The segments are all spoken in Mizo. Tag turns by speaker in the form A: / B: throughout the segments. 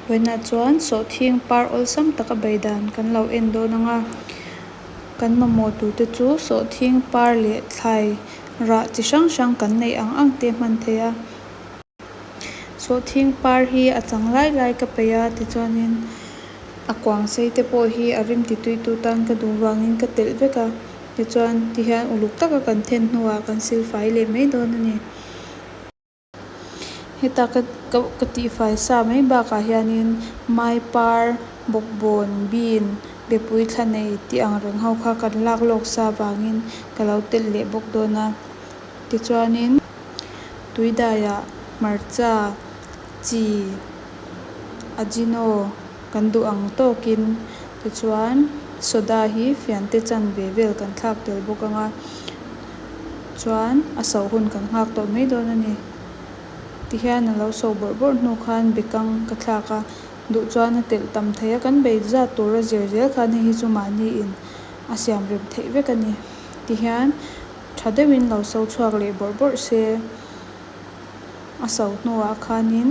A: Huaina chuan sawhthing par awlsam taka bei dan kan lo en dawn ang a, kan mamawh tur te chu sawhthing par leh thlai rah chi hrang hrang kan neih ang ang te hman thei a. Sawhthing par hi a chang lai lai ka peih a, tichuanin a kuang sei te pawh hi a rim ti tui tu tan ka duh vangin ka telh vek a, tichuan ti hian uluk taka kan then hnuah kan silfai leh mai dawn a ni. Heta ka ka tihfai sa mai bakah hianin mai par, bawkbawn, bean, bepui thla nei tih ang reng ho kha kan lak lawk sa vangin ka lo telh leh bawk dawn a. Tichuanin tuidaiah hmarcha, chi, ajino kan duh ang tawkin tichuan soda hi fiante chan ve vel kan thlak tel bawk ang a. chuan a sauh hun kan nghak tawh mai dawn a ni. Tihian a lo sauh bawrh bawrh hnu khan Bekang ka thlak a, duh chuan a telh tam thei a, kan bei zat tura zir zel khan hei hi chu mahniin a siam rem theih vek a ni. Tihian tha deuhin lo sauh chhuak leh bawrh bawrh se a sauh hnuah khanin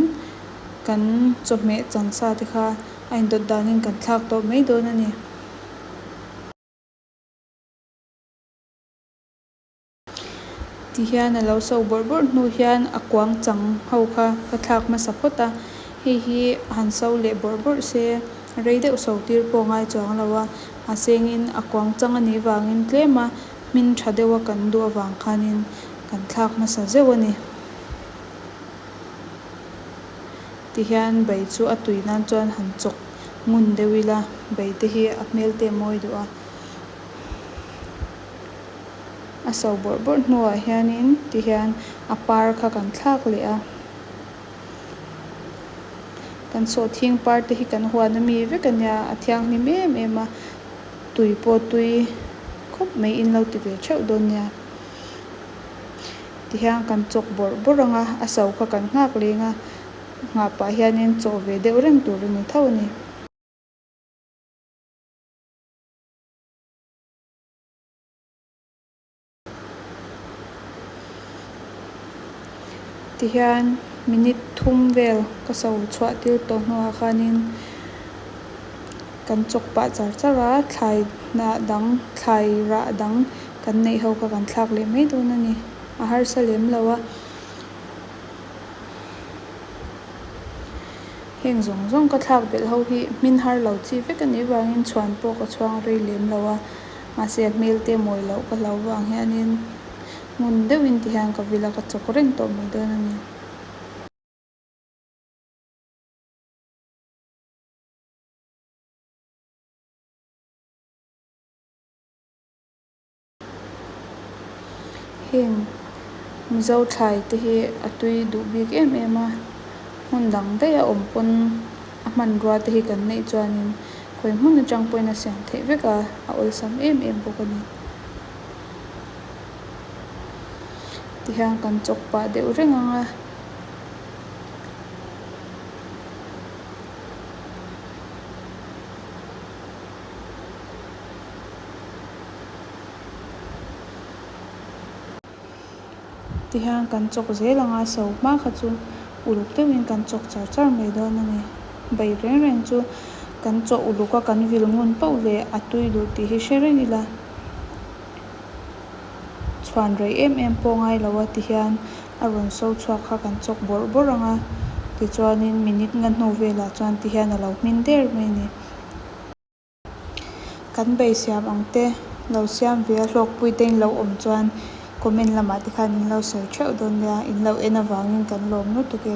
A: kan chawhmeh chansa te kha a indawt danin kan thlak tawh mai dawn a ni. Ti hian a lo so bawrh bawrh hnu hian a kuang chang ho kha ka thlak hmasa phawt a, hei hi a han so leh bawrh bawrh se, rei deuh so tir pawh a ngai chuang lo a, mahsengin a kuang chang a nih vangin tlema hmin tha deuh a kan duh avang khanin kan thlak hmasa zeuh a ni. Ti hian bei chu a tui nan chuan han chawk ngun deuh ila, beite hi a hmelte mawi duh a. a so bawrh bawrh hnuah hianin ti hian a par kha kan thlak leh a. Kan sawhthing par te hi kan huan a mi vek a nia, a thianghlim em em a, tui pawh tui khawp mai in lo ti ve theuh dawn nia. Ti hian kan chawk bawrh bawrh ang a, a so kha kan nghak leng a, nghah pah hianin chaw ve deuh reng tur a ni tho a ni. Tihian minute thum vel ka so chhuah tir tawh hnuah khanin kan chawk pah char char a, thlai hnah dang thlai rah dang kan neih ho kha kan thlak leh mai dawn a ni. A harsa lem lo a. Heng zawng zawng ka thlak belh ho hi hmin har lo chi vek anih vangin chhuan pawh ka chhuang rei lem lo a, mahse a hmelte mawi loh ka hlau vang hianin ngun deuhin tihian ka vil a ka chawk reng tawh mai dawn a ni. Heng Mizo thlai te hi a tui duh bik em em a, hmun dang daih a awm pawn a hmanrua te hi kan neih chuanin khawi hmun atang pawhin a siam theih vek a, a awlsam em em bawk a ni. Ti hian kan chawk pah deuh reng ang a. Ti hian kan chawk zel ang a, so hma kha chu uluk deuhin kan chawk char char mai dawn a ni. Bai reng reng chu kan chawk uluk a, kan vil ngun pauh leh a tui duh tih hi hre reng ila, chhuan rei em em pawh ngai lo a ti hian a rawn so chhuak kha kan chawk bawrh bawrh ang a, tichuanin minute nga hnu velah chuan ti hian a lo hmin der mai a ni. Kan bei siam ang te lo siam ve a, hlawkpui te in lo awm chuan comment lamah te khan in lo sawi theuh dawn nia, in lo en avangin kan lawm lutuk e.